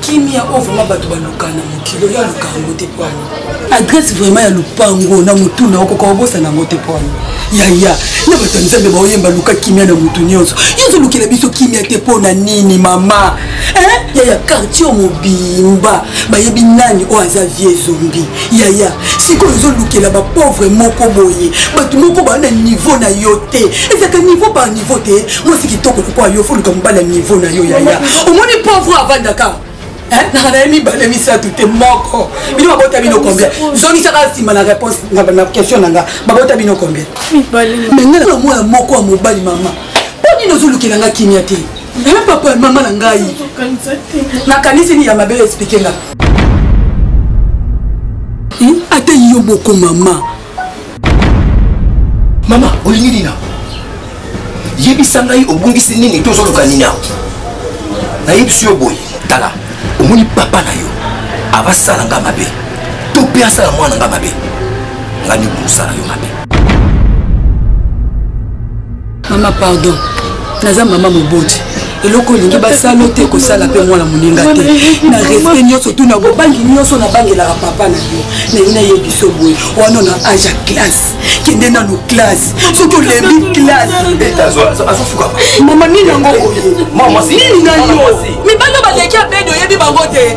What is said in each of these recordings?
kimia oyo vraimen bato baluka na mokili oyo aluka yango te po wana adresse vraimen ya lopango na motuna okoka obosana yango te po wana yaya na bato ya nzambe baoyemba luka kimia na motu nyonso yo ozolukela biso kimia te mpo na nini mama yaya quartier mobimba bayebi nani oyo aza vie zombi yaya sikoyo ozolukela bapauvre moko boye bato moko baa na niveau na yo te ezalaka niveau par niveau te mwasi kitoko lokola yo foluka mobali ya niveau na yo yaya omoni pauvre avandaka naka na ye mibale misato te moko bino babota bino combien zongisaka nsima na réponse na question na nga babota bino combien me nga na mwana moko ya mobali mama mpo nini ozolukela nga kimia te nayo papa ya mama na ngai nakanisi nini ya mabe explike nga hmm? ata yo boko mama mama olingi nini awa yebisa ngai obungisi nini to ozoluka nini awa nayebisi yo boye tala omoni papa na yo avasala nga mabe to mpe asala mwana nga mabe nga nibungusala yo mabe mama pardon naza mama moboti eloko olingi basala te kosala mpe mwana moninga te na respect nyonso tuna bobangi nyonso nabangelaka papa na yo naye naye biso boye wana na age ya classe kende nanu classe soki olembi classemama nini yango nini na yo mibali baleki abedo oyebi bango te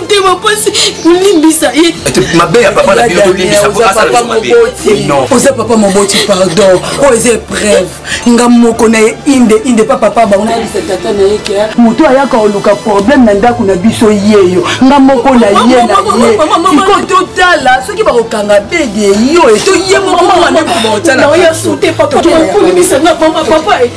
motema mpasi kolimbisa ye mabe ya papa na bino tolimbisa po asala biso mabe oza papa moboti pardon oyo eza epreuve nga moko na ye inde inde pa papa bango nayebisa tata na ye ke moto ayaka oluka problème na ndako na biso yeyo nga moko na ye na ye siko totala soki bakokanga bede yo eto ye moko mwana mobotala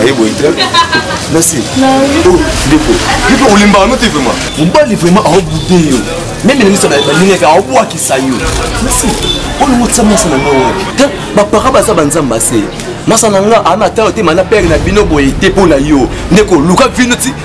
aye boye te nasi ndeko ndeko olimbaka no te vraimen mobali vraimen aobude yo meme elemisa balingaka aobwakisa yo nasi olingo tisa masa na ngai wapi te bapara baza banzambe ase masa na nga ana ata yo te mana pere na bino boye te mpo na yo ndeko luka vino ti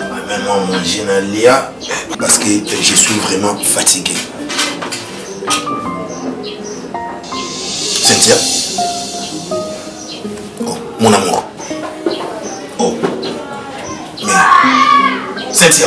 amema manger na lia parce que je suis vraiment fatigué cynthia oh, mon amour oh mais cynthia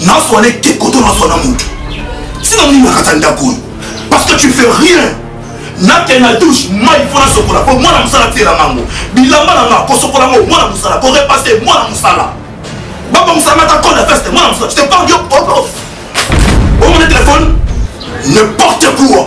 nazwa na ekeko to nazwa na moto sino nini nakata ndako oyo parce que tu fais rien nakende na douche mai mpo nasokola mpo mwana mosala tiela mango bilamba na nga kosokola ngo mwana mosala korepase mwana mosala baba mosala mata col ya veste mwana mosala je te parle yo omona telefone n'importe quoi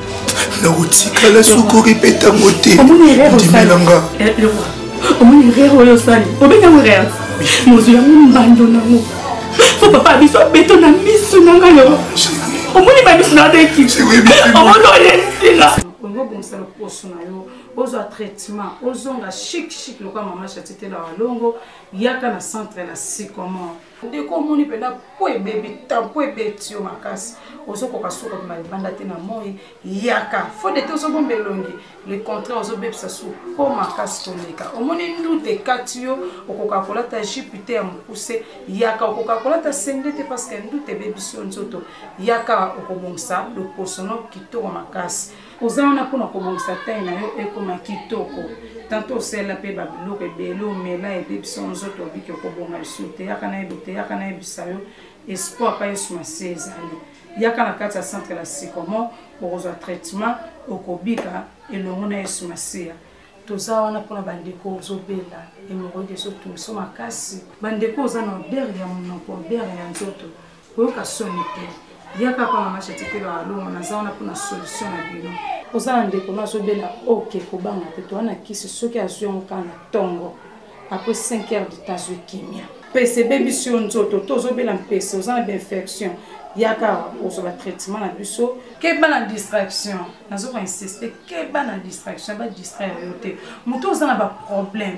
nakotikala sukuri mpe ntango te ndimelanga omoni erreur oyo osali obengi yango erreur mozwi yango mbando nango fo papa biso abeto na miso na ngai yo omoni bamiso na deki omoni olensila olingi obongisa loposo na yo ozwa traitement ozonga chic chic lokola mama chatitela walongo yaka na centre na sycomore ndeko omoni mpenza mpo ebebi temps mpo ebeti yo makasi ozokoka suka bima libanda te na moi yaka fode te ozobomba elongi le contraire ozobebisa su mpo makasi koleka omoni ndute ekati yo okoka kolata jipe te ya mokuse yaka okoka kolata sende te parceke ndute ebebisi yo nzoto yaka okobongisa loposono kitoko makasi oza wana mpona kobongisa tai na yo ekoma kitoko tanto osala mpe babiloko ebele omela ede biso nzoto obiki okobonga lisusu te yaka nayebi te yaka nayebisa yo espoir pa yesu masi ezali yaka na kati ya centre la sycomo okozwa traitement okobika elongo na yesu masiya toza wana mpona bandeko ozobela emoroide ezotungiso makasi bandeko oza na odere ya monoko odere ya nzoto koyoka soni te yaka pa mama chati mpe baalongo naza wana mpona solution na bino oza na ndeko no azobela oke kobanga te to wana kisi soki azwi yango kaka na ntongo apres 5 heures de temps azwi kimia mpese ebebisi yo nzoto to ozobela mpese oza na bainfection yaka ozwa batraitement na biso keba na distraction nazoka insiste keba na distraction badistraire yo te moto oza na baproblème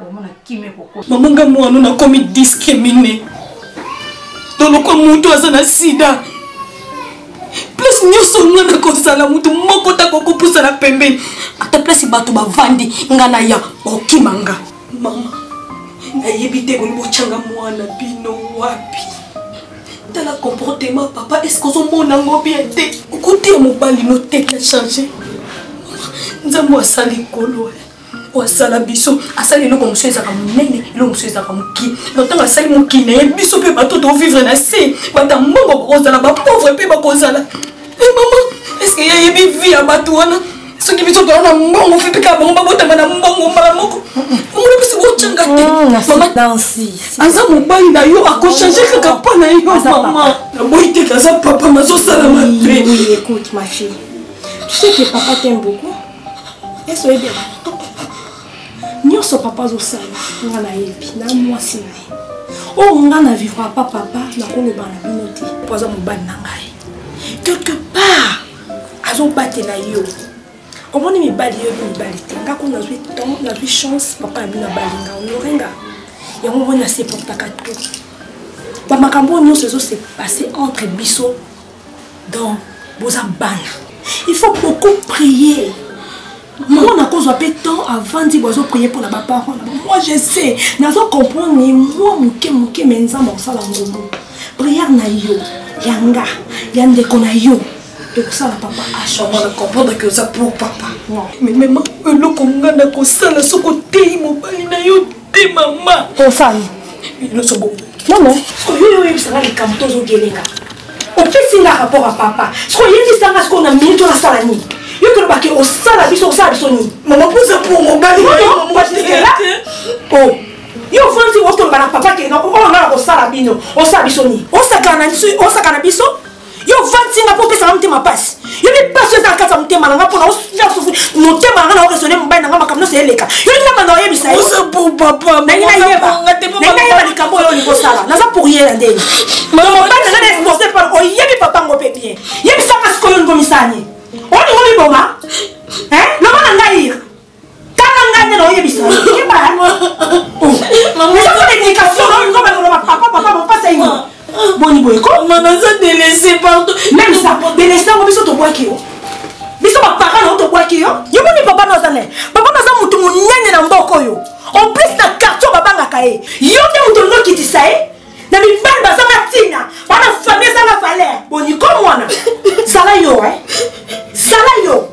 omona kimia ekokosa mama nga mwana nakomi discrimine tolokwa moto aza na sida place nyonso nga nakozala moto moko takokopusa na pembeni ata place bato bavandi nga na ya okima nga mama nayebi te boni botyanga mwana bino wapi tala comportement papa eske ozomona ngo bien te okotiya mobali noteki ya change nzambe asali kolo eh. oyo asala biso asali eloko mosusu ezalaka monene eloko mosusu ezalaka moki na ntango asali moki na ye biso mpe bato tovivre na se bata mbongo bakozala bapauvre mpe bakozala e mama eske ye ayebi vi ya bato wana soki biso toza na mbongo mpe mpe kaka bango babotama na mbongo mbala moko omona mpesi kocanga te mm, aza mobali na yo akochange kaka mpo na yo mama naboyi te kaza papa mazosala mabe Tu sais que papa t'aime beaucoup esoyebi nyonso papa azosala nga nayebi na mwasi na ye oyo oh, nga na vivra pa papa nakoloba na bino te mpo aza mobali na ngai quelque part azobatela yo omoni mibali yo mibali te nga kuna nazwi temps nazwi chance papa na bino abali nga onore nga yango moni naseportaka tout bamakambo oyo nyonso ezose passe entre biso donc boza bana il faut beaucoup prier moko nakozwa mpe temps avandi bwazo prier mpo na baparent na bango moi je sais nazo comprendre ye mwa moke moke me nzambe akosala ngombo priere na yo ya nga ya ndeko na yo ekosala papa ashomona comprendre ke oza pour papa eloko nga nakosala soki oteyi mobali na yo te mama tosani nyonso bongo non non sikoyo yo oyebisanga likambo tozogelenga opesi nga rapport ya papa sikoyo oyebisanga sikoyo na minute oyo nasala nini yo koloba ke osala biso osala biso nini mama poza po mobali yo ofandi okoloba na papa ke oyo nga na kosala bino osala biso nini osakana biso yo ovandisi nga mpo opesa nga motema mpasi yo nde mpasi eza na kati ya motema na nga mpo motema na nga na okesone mobali na nga makambo nyonso eleka yo nde nabanda oyebisa yonalingi nayeba likambo oyo olingi osala naza pour ye na ndenge mobali na nga na expose par oyebi papa ngo mpe bien yebisanga sikoyo olingi omisani olingi omiboma loba na ngai kaka ngai nde naoyebisa keba eza ko dedication naoyikoba koloba papa papa mopasa ingo boni boye ko mama aza delese pardon meme sa delese yango biso tobwaki yo biso bapara na yo tobwaki yo yo moni papa no aza ne papa no aza motu monene na mboka oyo en plus na quartier babangaka ye yo nde moto olingi okitisa ye na mibali bazanga ntina bana famille ezanga valeur boniko mwana zala yo e zala yo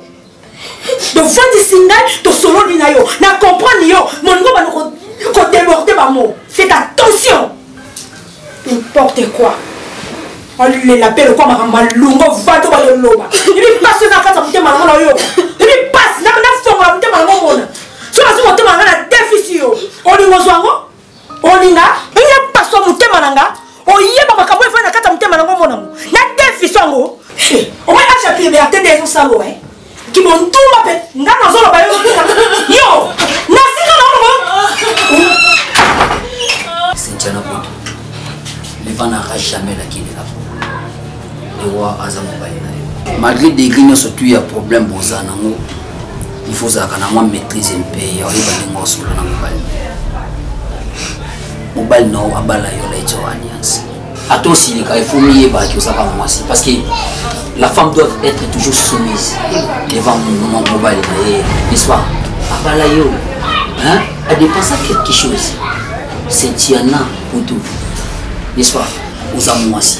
tofandisi ngai tosololi na yo na comprendre yo molingo bano kodeborde bamo fait attention importe quoi olela mpe lokwa makambo malungo vado bayoloba ebi mpasi oza kati ya motema nango na oyoka ebi mpasi nafongola motema nango omona so nazwi motema nanga na defisi yo olingo zwa yango olinga ndenge paswa motema na nga oyeba makambo efai na kati ya motema na ngo mona ngo na defiso yango eh, omoi acha priberte nde ezosalo e eh. kimontuma mpe nga nazoloba yo yo nasika na ngo sentiana poto leva nara jamais nakilela po lewa aza mobali na yo malgré degre nyonso tu ya problème boza nango il faut ozalaka na mwa maîtrise mpe ya oyeba ndenge osolola na mobali mobali na yo abala yo na etio alliance ata osilika il faut miyeba ke ozaka mwasi parce que la femme doit être toujours soumise devant mobali na ye n'est-ce pas abala yo adepensa quelque chose c'est tiana kutu n'est-ce pas oza mwasi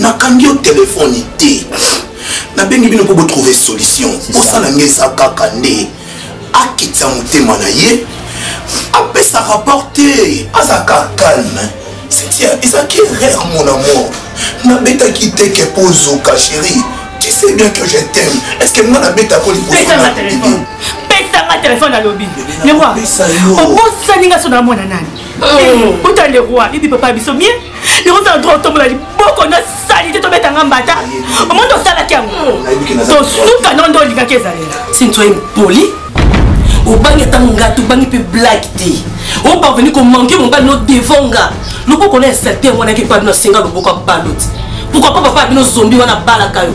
nakangi yo telefone te nabengi bino mpo botrouve solution bosala nge eza kaka nde akitisa motema na ye apesa rapport te azalaka calme setia ezalaki erreur mon amour nabetaki te ke mpo ozoka chérie tu sais bien que je t'aime est ce que nga nabetako libosopesanga telefone alobi lewa obosani nga so namona nani ota lewa bibi papa biso mie nakozala droit otombola liboko na salite tobeta nga mbata omoni tosalaki yango tosuka nonde olingaki ezalela sinti oye mpoli obangi ata monga te obangi mpe blake te oparveni komanke mobali no devant nga loboko na ya salite yango wanaki epa bino asenga loboko ya baloti pourkoi pa papa ya bino zombi wana abalaka yo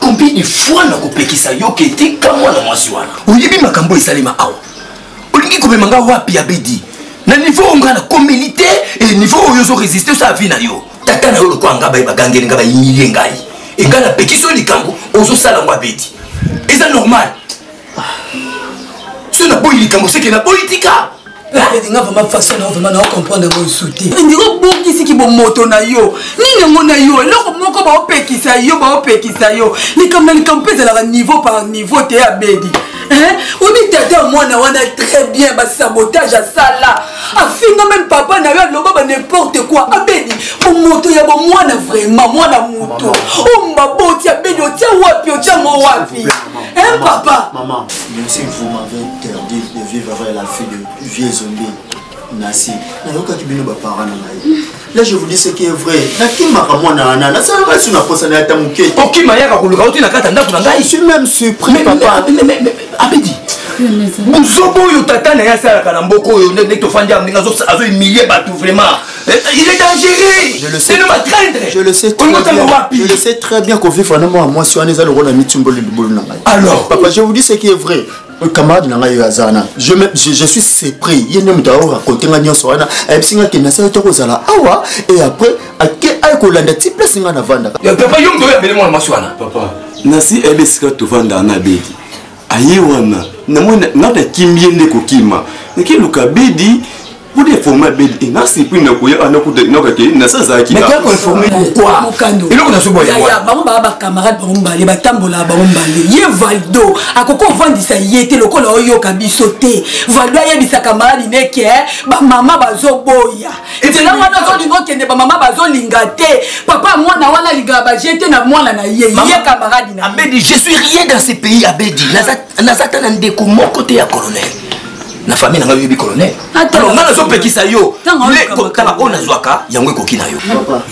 combien de fois nakopekisa yo ke tika mwana mwasi wana oyebi makambo esalema awa olingi komema nga wapi abedi na niveau oyo ngai nakomeli te e niveau oyo ozo resiste osala vi na yo tata na yo lokola ngai baye bagangeli ngai bayilie ngai engai napekisi yo likambo ozosala yango abedi eza normal soki naboyi likambo seke naboyi tika nga vraimen façon na vraimen nao comprendre yango lisu te ndika obongisi kibomoto na yo nini yango na yo eloko moko baopekisa yo baopekisa yo likambo na likambo mpe ezalaka niveau par niveau te abedi oyebi tata ya mwana wana très bien basabotage asala afinga meme papa na yo aloba ba n'importe quoi abedi bomoto ya bomwana vraiment mwana moto oyo maboti abedi otya wapi otyango wapi Un papa. Maman, monsieur vous m'avez interdit de vivre avec la fille de vieux zombie. nasi nayokaki bino baparent na ngai là je vous dis ce qui est vrai nakimaka mwana wana nasalaka su na posa na yata moke okima yaka koluka oti na kati ya ndako na ngai suis même surpris papa abedi buzoba oyo tata na ye asalaka na mboka oyo nde tofandi yango ndenge azohumilie bato vraiment Eh, il est dangereux. Je le sais. Je le sais très bien. Je le sais très bien qu'on vit vraiment à moi si on est à l'euro dans Mitumbo le boulot n'a Alors. Papa, je vous dis ce qui est vrai. Euh, camarade na ngai oyo aza wana je, je, je suis surpris ye nde moto aoraconte ngai nyonso wana ayebisi ngai kende asali to kozala awa et après ake aye kolanda ti place ngai navandaka papa yo moto oyo abele mwana mwasi wana papa nasi ayebi esika tovandaka na bedi aye wana namoni ngai nakimi ye nde kokima nakiluka bedi Pour des formats bébé, il n'a si pris n'a couillé, n'a coupé, n'a coupé, n'a ça zaki. Mais qu'est-ce qu'on formé pourquoi Et là on a ce boy. Ya bango ba ba camarades bango ba les batambola bango ba les. Ye Valdo, à koko vandi ça y était le col oyo kabiso te. Valdo ya bisa camarade ne ke ba maman ba zo boya. Et c'est là on a zo lingo kende ba maman ba zo lingate. Papa moi na wana liga ba jete na moi na ye. Ye camarade na. Abedi, je suis rien dans ce pays Abedi. Nazata na ndeko mon côté ya colonel. na famille na ngai oyebi colonel alors ngai nazopekisa yo tala oyo nazwaka yango ekoki na yo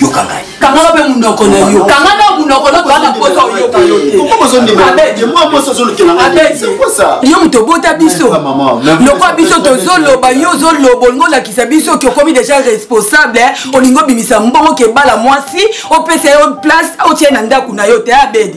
yoka ngai kangaka mpe monoko na yo kangaka monoko na kozana mposa oyoka yo te yo moto obota biso lokola biso tozoloba yo ozoloba olingi olakisa biso oki okomi déjà responsable olingi obimisa mbongo kebala mwasi opesa yo place otie na ndako na yo te abedi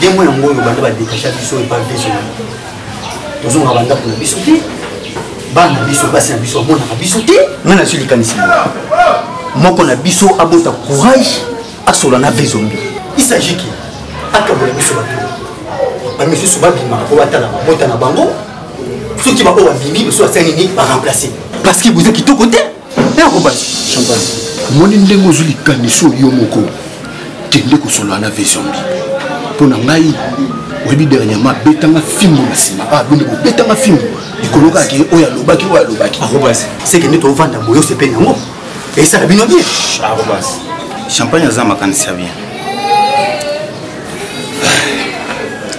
demo yango oyo banda badetacha biso epa biso tozongaka bandako na biso te bana na biso basi na biso bamonaka biso te ngai nasi likanisi moko na biso abota courage asola na ve zombi isagiki akabola biso bato bamisusu babimaka mpo batala mabota na bango soki baoyo babimi biso basali nini baremplace parce que boza kitoko te ekobati champagne omoni ndenge ozwi likanisi oyo moko kende kosolola na vesombi mpo na ngai oyebi dernièrement abetanga fimbo na nsima abende ah, kobetanga fimbo likolo kaka ke oyo alobaki oyo alobaki seke nde tovanda boye osepeli yango esala bino bien champagne aza makanisi ya bien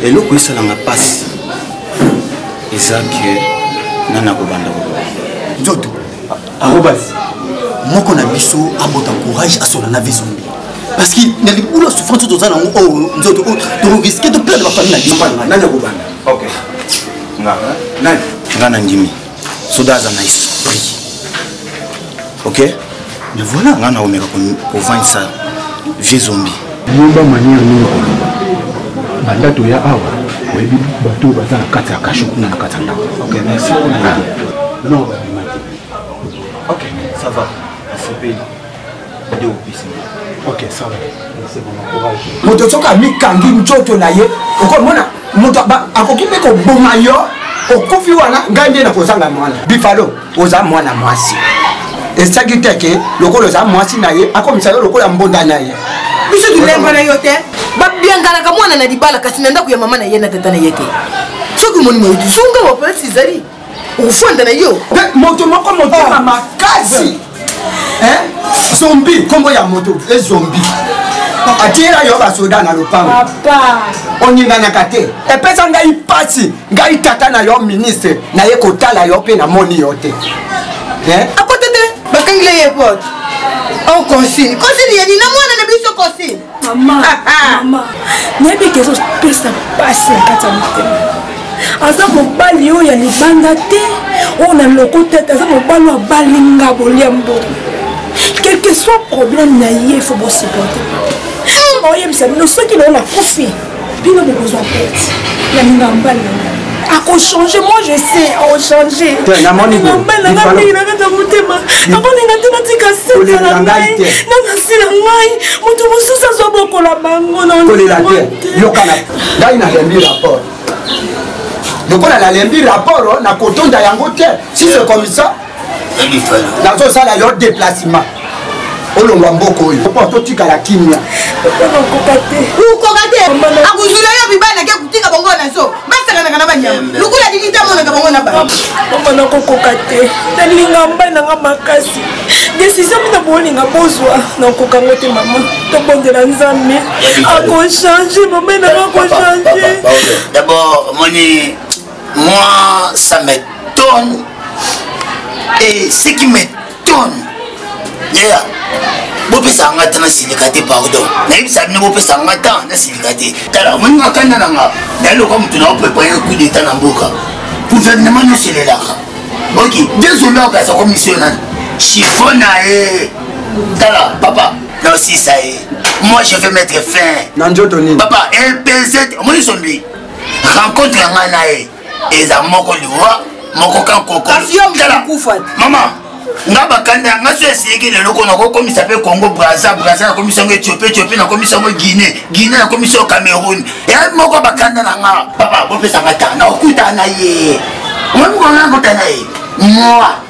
eloko esalanga mpasi eza ke nani akobanda koloba nzoto arobas moko na biso abota courage asola na vie zombi parce que na libulu ya souffrance oyo toza nango oyo oh, nzoto oyo oh, tokoriske toperde bafamille na bisoanani akobanda ok nga nani nga na ndimi soda aza na esprit ok Mais voilà, nga na omeka ko vendre ça vieux zombie. Yeba manière nini ko loba. Banda to ya awa, oyebi bato baza na kati ya kasho kuna na kati ya ndako. OK, merci. Ah. Non, ba bimaki. OK, ça va. Asepeli. Ndio opesi. OK, ça va. Merci pour mon courage. Moto soka mikangi nchoto na ye, okomona moto akoki mpe koboma yo okufi wana ngai nde nakozanga mwana bifalo oza mwana mwasi esaki te ke lokola oza mwasi na ye akomisa yo lokola mbonda na ye biso tolemba na yo te babianganaka mwana na libala kasi na ndako ya mama na ye na tata na ye te soki omoni moyo tizunga waplasi ezali ofanda na yo moto moko motema ah. makasi zombi nkombo ya moto ezombi atiyela yo basoda na lopango oninganaka te epesa ngai mpasi ngai tata na yo ministre naye kotala yo mpe namoni yo te eh? akote te bakangile ye pote on oh, consigne consigne yeni na mwana na biso consigne mama ah, ah. mama nayebi ke ezopesa mpasi na kati ya motema aza mobali oyo ya libanda te oyo na loko te aza mobali oyo abali nga bolia mbongo quelque soit problème na ye fo bosupporte oyebisa bino soki nao nakufi bino bokozwa perte ya mingambali yango akochange moi je sais akochange motema akolinga te natika sete na ngai na basi na ngai moto mosusu azwa bokola bango nakolela te yokana ngai nalembi rapport lokola nalembi rapport nakotonda yango te si c'est comme ça nazosala yo déplacement olongwa mboka oyo po totikala kimia okoka te akozula yo bibana ke kotika bango na zo basakanaka na banyama lokola dini te amonaka bango na bamama nakokoka te nalinga mbai nanga makasi desizio mina bolinga bozwa nakoka ngo te mama tobondela nzambe akochange mama nanga akochange dabord moni Moi, ça m'étonne. Et ce qui m'étonne, yeah. bopesa nga ata nasilika te pardon nayebisa bino bopesa nga ata nasilika te tala omoni nga kanda na nga naye lokola moto na oprepare coup deta na mboka gouvernement nyonso elelaka ok désolé okasa komisio nani chiffon na ye tala papa naosisa ye moi je vais mettre fin na njoto nini papa lpz omoni sombi rencontre ya ngai na ye eza moko liwa moko kankokolomaman nga bakanda nga so eseyeki lelo ko nakokomisa mpe congo braza braza nakomisa yango ethiopie ethiopie nakomisa yango guine guine nakomisa yo cameroun eyabi moko bakanda na nga papa bopesanga ta nakokutana na ye omoni mokolo nakota na ye moi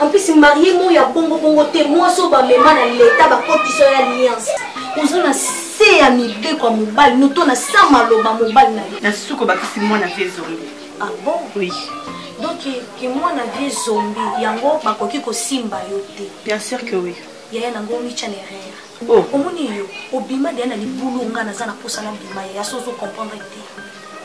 En plus marie mo ya bongo bongo te mwasi oyo bamema na leta bakotisa ya alliance oza na se ya mibeko ya mobali noto na sa maloba mobali na ye na susu kobakisi mwana vie zombi ah bon oui donc ke mwana vie zombi yango bakoki kosimba yo te bien sûr que oui yaya nango omicha na erreur Oh. omoni yo obima deya na libulu nga naza na posa na bima ya yasi ozo comprendre te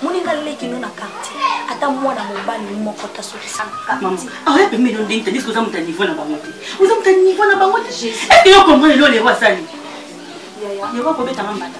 moni nga leki no na quartier ata mwana mobali moko tasokisangaoya pembe no ndenge tandis oza moto ya niveau na bango te oza moto ya niveau na bango te eske yo comprendre lolero asali yaya yeko akobetanga mbata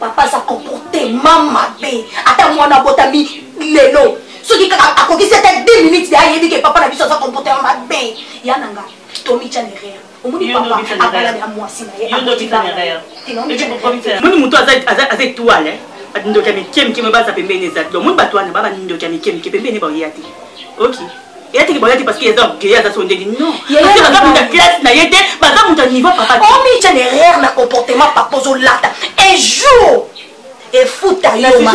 papa aza comportement mabe ata mwana abotami lelo soki kaka akokisi ata 2 minutes ya ayebi ke papa na biso aza comportement mabe ya na nga tomitya nerere omoni papa abala na mwasi na ye moni moto aza etoile bandoki ya mike mike me baza pembeni eza donc moni bato wana ba bandoki ya mike mike pembeni baoyeya te ok eya teke boyaki parce que eza orgueil aza so ndenge non parce que baza mutu ya classe na ye te baza mutu ya niveau papa omica derrière na comportement papa ozolata un jour efuta yo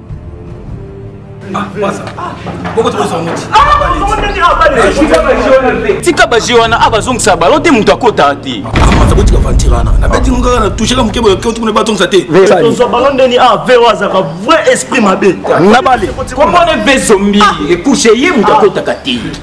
Ah, tika baje wana a ah, bazongisa balo te moto akotaka te akotika ah, vantire wana nabeti ngo kaka na touche ka moke boye keuti kuna batongisa te tozwa balo ndeni a vero azalaka vrai esprit mabe nabale komone ve zombi ekushe ye moto akotaka te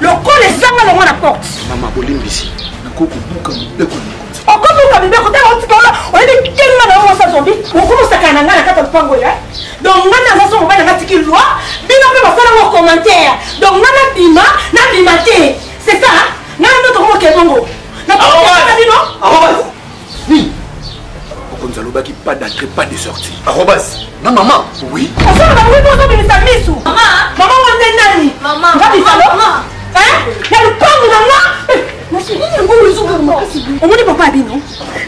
lokola ezanga longo na porte mama bolimbisi nakoki kobuka mibeko na mikonzi okobuka mibeko tala otika wana oyebi kenga na yango osazombi okomosakana na ngai na kati ya lopango ya donc ngai naza so mobali nanga tiki loi bino mpe basala ngo commentaire donc ngai nabima nabima te c'est ça ngai ndotokomokebongo nakoaa bino nini mokonzi alobaki pas d'entrée pas de sortie arobas na mama oui osala bango ete ozobimisa misu mama ngo nde nani nga bizalo ya lupangu na nga omoni papa bino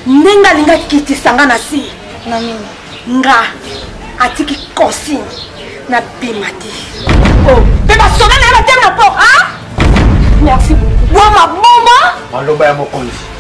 ndenge alinga kitisa nga na si nga atiki consigne na bima te oh, mpe basoda na ye batema na po merci boma boma maloba ya mokonzi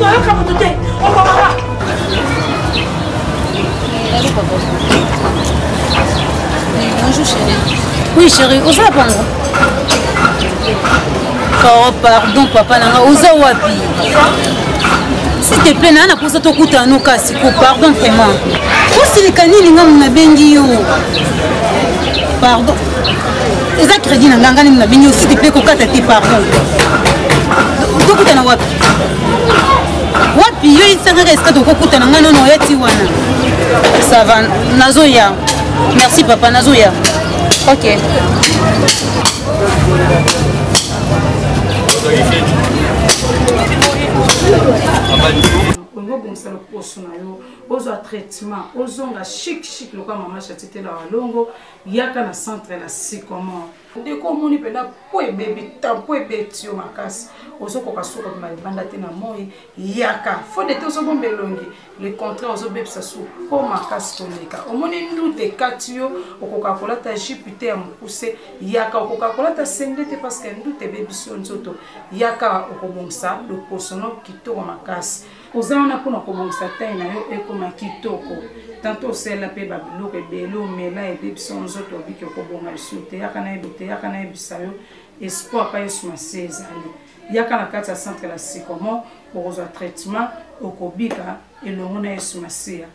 oyoka moto te okomaka Bonjour chérie. Oui chérie, oza ya pango Oh pardon papa na nga oza wapi s'il te plaît naa naposa tokutana no kasi ko pardon vraiment osilika nini nga nabengi yo pardon eza crédit na ngai ngai nini na bini aussi te mpe kokata te pardon tokutana wapi wapi yo yisangaka esika tokokutana ngai nono oya ti wana ça va nazoya merci papa nazoya ok olingi obongisa loposo na yo ozwa traitement ozonga chic chic lokola mama chatitela walongo yaka na centre na sycomore ndeko omoni mpenza mpo ebebi tan mpo ebeti yo makasi ozokoka suka bima libanda te na moi yaka fode te ozobomba elongi le contraire ozobebisa su mpo makasi koleka omoni ndute ekati yo okoka kolata jipe te ya mokuse yaka okoka kolata sende te parceke ndute ebebisi yo nzoto yaka okobongisa loposono kitoko makasi oza wana mpona kobongisa tai na yo ekoma kitoko tanto osala mpe babiloko ebele omela ede biso nzoto obiki okobonga lisusu te yaka nayebi te yaka nayebisa yo espoir pa yesu masi ezali yaka na kati ya centre la sycomo okozwa traitement okobika elongo na yesu masiya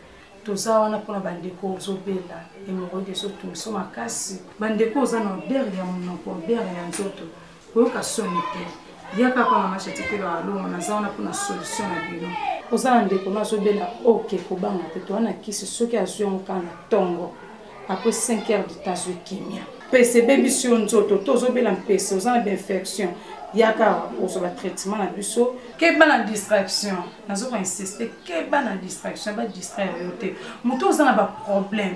toza wana mpona bandeko ozobela emoroide ezotungiso makasi bandeko oza na odere ya monoko odere ya nzoto koyoka soni te yaka pa mama chati mpe baalongo naza wana mpona solution na bino oza na ndeko no azobela oke kobanga te toa na kisi soki azwi yango kaka na ntongo apres 5 heures de temps azwi kimia mpese ebebisi yo nzoto to ozobela mpese oza na bainfection yaka ozwa batraitement na biso keba na distraction nazoka insiste keba na distraction badistraire yo te moto oza na baproblème